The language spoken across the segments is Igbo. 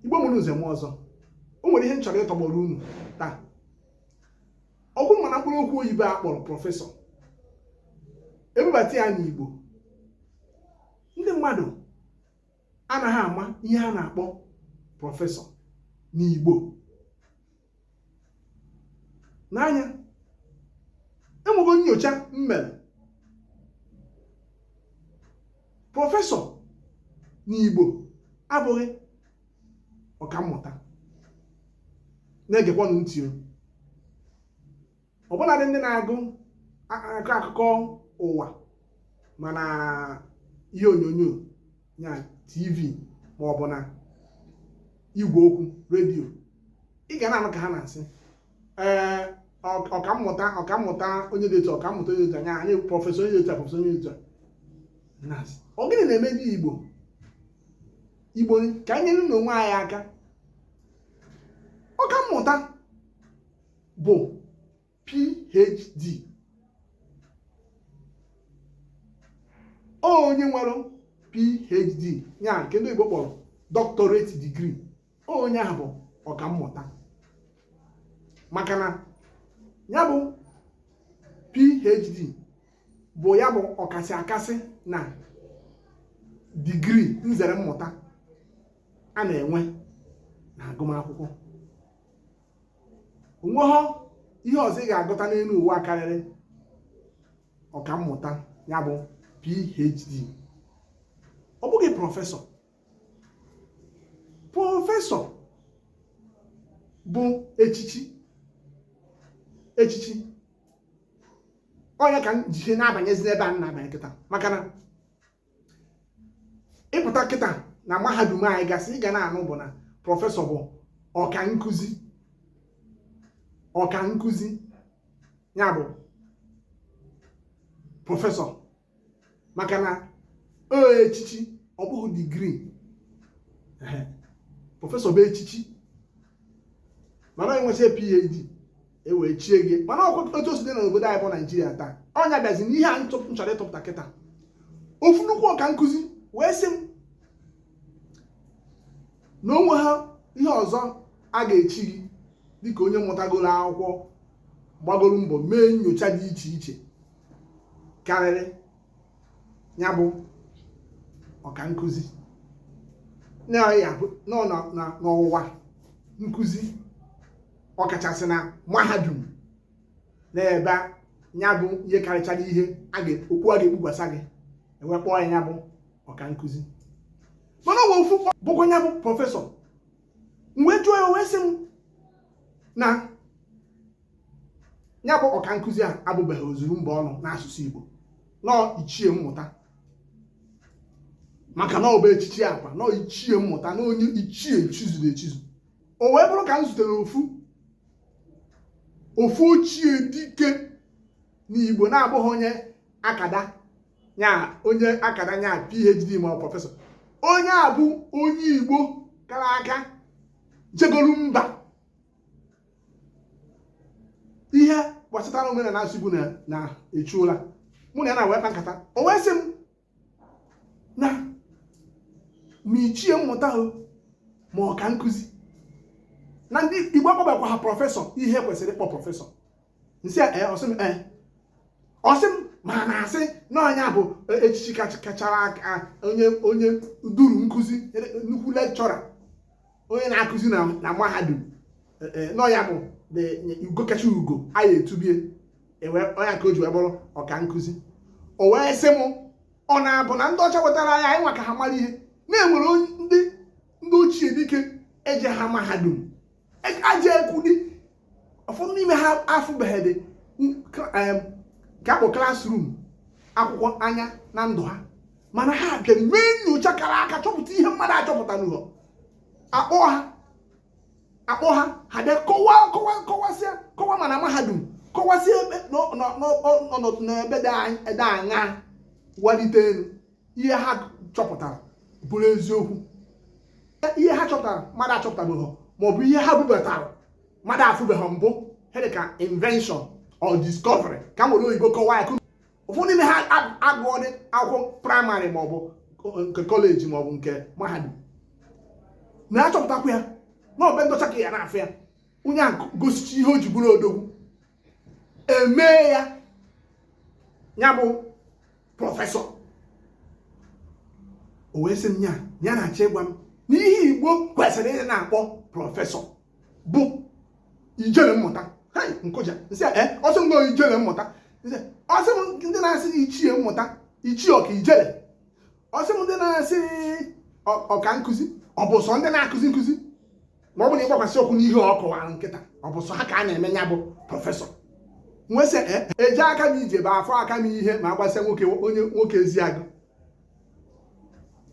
igbo mụrụ nze mụọ ọzọ o nwere ihe m chọrọ ịtọgbọrọ unu taa ọ bụrụ mana mkpụrụ okwu oyibo a kpọrọ prọfesọ e bubata ya n'igbo ndị mmadụ anaghị ama ihe a na-akpọ prọfesọ n'igbo n'anya enwego nyocha m mere prọfesọ n'Igbo abụghị ọkammụta na-egekwanụ ntị ọbụladị ndị na-agụ akọ akụkọ ụwa ma na ihe onyonyo ya tv ma ọ bụ na igwe okwu redio ị ga na-anụ ka ha na-asị ee ọkammụta ọkammụta onye dị etu ọkammụta onye dị etu anya anyị prọfesọ onye dị etu prọfesọ onye dị etu na-asị ọ gịnị na-eme ndị igbo igbo ka anyị nyerenụ onwe anyị aka ọkammụta bụ phd onye nwere phd ya nke ndị oyibo kpọrọ doctorate degree onye ahụ bụ ọkammụta maka na ya bụ phd bụ ya bụ ọkasị akasị na digrii nzere mmụta a na-enwe na agụmakwụkwọ o nweghọ ihe ọzọ ị ga-agụta n'elu ụwa karịrị ọkammụta ya bụ PhD ọ bụghị prọfesọ prọfesọ bụ echichi echichi ọ nya ka m ji na-abanyezi n'ebe a na-abanye kịta maka na ị pụta kịta na mahadum anyị gasị ị ga na-anụ bụ na prọfesọ bụ ọka nkụzi ọka nkụzi ya bụ prọfesọ maka na ọ echichi ọ bụghị digrii prọfesọ bụ echichi mana i nwesịa phd e wee chie gị mana ọ kwa otu o si dị n'obodo anyị bụ naijiria taa ọ nya bịazi na ihe a m chọrọ ịtụpụta kịta ofu nnukwu ọka nkụzi wee sị m na o nweghọ ihe ọzọ a ga-echi gị dịka onye mụtagoro akwụkwọ gbagoro mbọ mee nyocha dị iche iche karịrị ya bụ ọka nkụzi n'ọwụwa nkụzi ọkachasị na mahadum n'ebe ya bụ ihe karịchara ihe okpu a ga-ekpukwasa gị e wee kpọọ ya ya bụ ọka nkụzi mana ọwa ofu bụkwa ya bụ prọfesọ m wee jụọ ya o wee sị m na ya bụ ọka nkụzi a abụbeghị ozuru mba ọnụ n'asụsụ Igbo na ọọ ichie mmụta maka na ọ bụ echichi akwa na ọọ ichie mmụta na onye ichie chizuru echizu o wee bụrụ ka m zutere ofu ofu ochie dike n'igbo na-abụghị onye akada nya onye akada nya phd ma ọ prọfesọ onye a bụ onye igbo kara aka jegolu mba ihe gbasatara omenala asụsụ igbo na-echu ụla mụ na ya nwa wee kpaa nkata o wee sị m na ma ichie mmụta ma ọka nkụzi na ndị igbo akpọbekwaha prọfesọ ihe kwesịrị ịkpọ prọfesọ m sị ya eh, ọ sị m eh. ọ sị m ma a na-asị na ọ nya bụ eh, echichi kachara aka onye onye duru nkụzi nnukwu lekchọra onye na-akụzi na mahadum na ọ nya bụ ugo kacha ugo a ya-etubie ewee kpọọ ya ka o ji wee bụrụ ọka nkụzi o wee sị m ọ na-abụ na ndị ọcha wetara ya anyị nwa ka ha mara ihe na e nwere ndị ndị ochie dike ejeha mahadum a ja-ekwudị ụfọdụ n'ime ha afụbeghị dị ka akpọ classroom akwụkwọ anya na ndụ ha mana ha bịara mee nnyocha kara aka chọpụta ihe mmadụ achọpụtanụhọ a kpọọ ha a kpọọ ha ha bịa kọwa kọwa kọwasịa kọwa ma na mahadum kọwasịa ebe n'ọnọdụ n'ebe dị anya walite elu ihe ha chọpụtara bụrụ eziokwu e, ihe ha chọpụtara mmadụ achọpụtabeghị maọbụ ihe ha bubatara mmadụ afụbeghị mbụ ha dị ka invention or discovery ka m were oyibo kọwaa ya ụfọdụ n'ime ha agụọdị akwụkwọ praịmarị maọbụ nke kọleji maọbụ nke mahadum na achọpụtakwa ya na ọ be ndị ọcha ka ya na-afụ ya onye a gosicha ihe o ji bụrụ odogwu e mee ya ya bụ prọfesọ o wee sị m ya ya na-achọ ịgwa m na ihe igbo kwesịrị ịdị na-akpọ prọfesọ bụ ijele mmụta m kụja m sị ya eh, ọ sị m na ọ ijele mmụta ọ sị m ndị na-asị ichie mmụta ichie ọ ka ijele ọ sị m ndị na-asị ọka nkụzi ọ bụ sọ ndị na-akụzi nkụzi ma ọ bụ na ịgbakwasị ụkwụ n'ihe ọ kọwara m kịta ọ bụ sọ ha ka a na-eme ya bụ prọfesọ m wee sị eh, ejeka m ije bụ afụka m ihe ma agbasịa nwoke onye nwoke eziagụ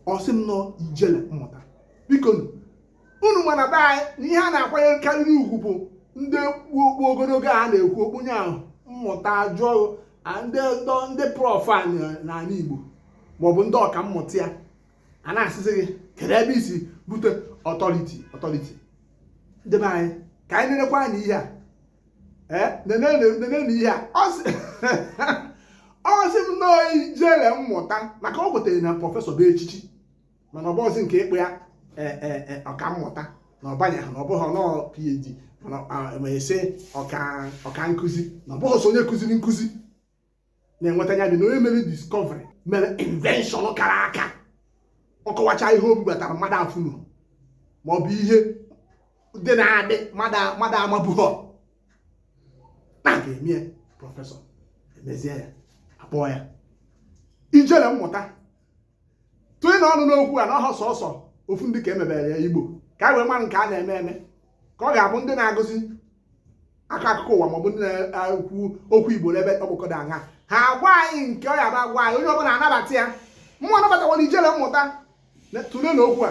ọ sị m na ọ ijele mmụta biko unu ma na be anyị na ihe a na-akwanyekarịrị ugwu bụ ndị kpu okpu ogologo a na-ekwu okpu onye ahụ mmụta a jụọ ndị ndị prọf niile n'ala Igbo maọbụ ndị ọka mmụta ya a na-asịzi gị kedu ebe i si bute ọtọriti ọtọriti ndị be anyị ka anyị nerekwa na ihe a ee nenenu ihe a ọ sị m na ọọ ijele mmụta maka o kwetere na prọfesọ bụ echichi mana ọ bụghịzi nke ịkpọ ya e, e, e, ọka mmụta na ọ banyeghị na ọ bụghị na ọọ PhD mana ọ- ma a sị ọka ọka nkụzi na ọ bụghị sọ onye kụziri nkụzi na-enweta ya dị na onye mere discovery mere invention kara aka ọ kọwacha ihe o bubatara mmadụ afụrọ ma ọ bụ ihe dị na-adị mmadụ a- mmadụ amabughọ na a ga-eme ya prọfesọ emezie ya a kpọọ ya ijele mmụta tụnyenụ ọnụ n'okwu a na ọhọ sọsọ ofu ndị ka e mebere ya igbo ka anyị wee mara nke a na-eme eme ka ọ ga-abụ ndị na-agụzi aka akụkọ ụwa maọbụ ndị na-ekwu okwu igbo n'ebe ọkpọkọdọ aṅa ha agwa anyị nke ọ ya-abụ a gwa anyị onye ọbụla anabata ya mụnwa anabatakwara ijele mmụta tụlenụ okwu a